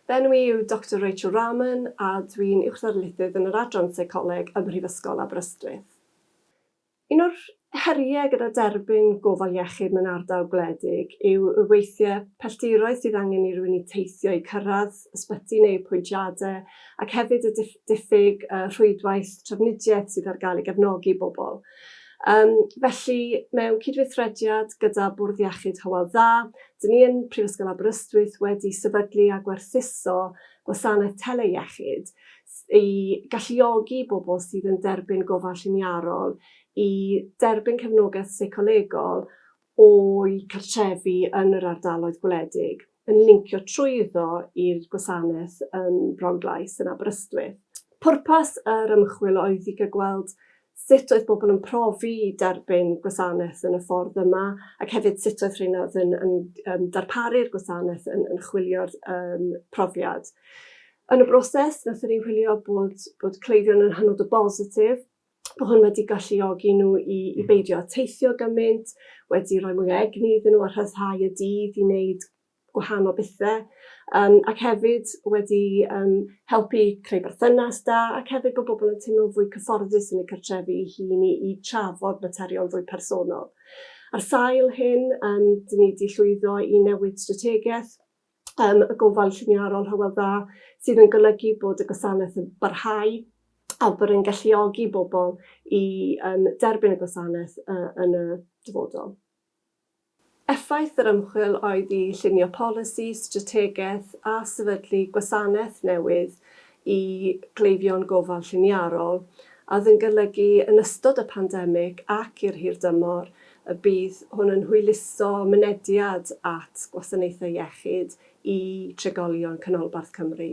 Fy enw i yw Doctor Rachel Rahman a dwi'n Uwchddarlithydd yn yr Adran Seicoleg ym Mhrifysgol Aberystwyth. Un o'r heriau gyda derbyn gofal iechyd mewn ardal gwledig yw y weithiau pelldiroedd sydd angen i rywun i teithio i cyrraedd ysbyty neu apwyntiadau ac hefyd y diffyg rhwydwaith trafnidiaeth sydd ar gael i gefnogi bobl Yym, felly, mewn cydweithrediad gyda Bwrdd Iechyd Hywel Dda, dyn ni yn Prifysgol Aberystwyth wedi sefydlu a gwerthuso gwasanaeth tele-iechyd s- i galluogi bobl sydd yn derbyn gofal lliniarol i derbyn cefnogaeth seicolegol o'u cartrefi yn yr ardaloedd gwledig, yn lincio trwyddo i'r gwasanaeth yn Bronglais yn Aberystwyth. Pwrpas yr ymchwil oedd i gael gweld sut oedd bobl yn profi derbyn gwasanaeth yn y ffordd yma, ac hefyd sut oedd rheina oedd yn, yn, yn darparu'r gwasanaeth yn, yn chwilio'r um, profiad. Yn y broses, nathon ni wylio bod, bod cleifion yn hynod o bositif Mae hwn wedi galluogi nhw i, i beidio â teithio gymaint, wedi rhoi mwy o egni iddyn nhw a rhyddhau y dydd i wneud gwahanol bethau, um, ac hefyd wedi um, helpu creu berthynas da, ac hefyd bod bobl yn teimlo'n fwy cyfforddus yn y cartrefi i hun i, i trafod materion fwy personol. Ar sail hyn, um, dyn ni wedi llwyddo i newid strategaeth um, y gofal lliniarol Hywel Dda, sydd yn golygu bod y gwasanaeth yn barhau a bod yn galluogi bobl i um, derbyn y gwasanaeth uh, yn y dyfodol. Effaith yr ymchwil oedd i llunio polisi, strategaeth a sefydlu gwasanaeth newydd i gleifion gofal lliniarol, a oedd yn golygu yn ystod y pandemig ac i'r hirdymor y bydd hwn yn hwyluso mynediad at gwasanaethau iechyd i trigolion Canolbarth Cymru.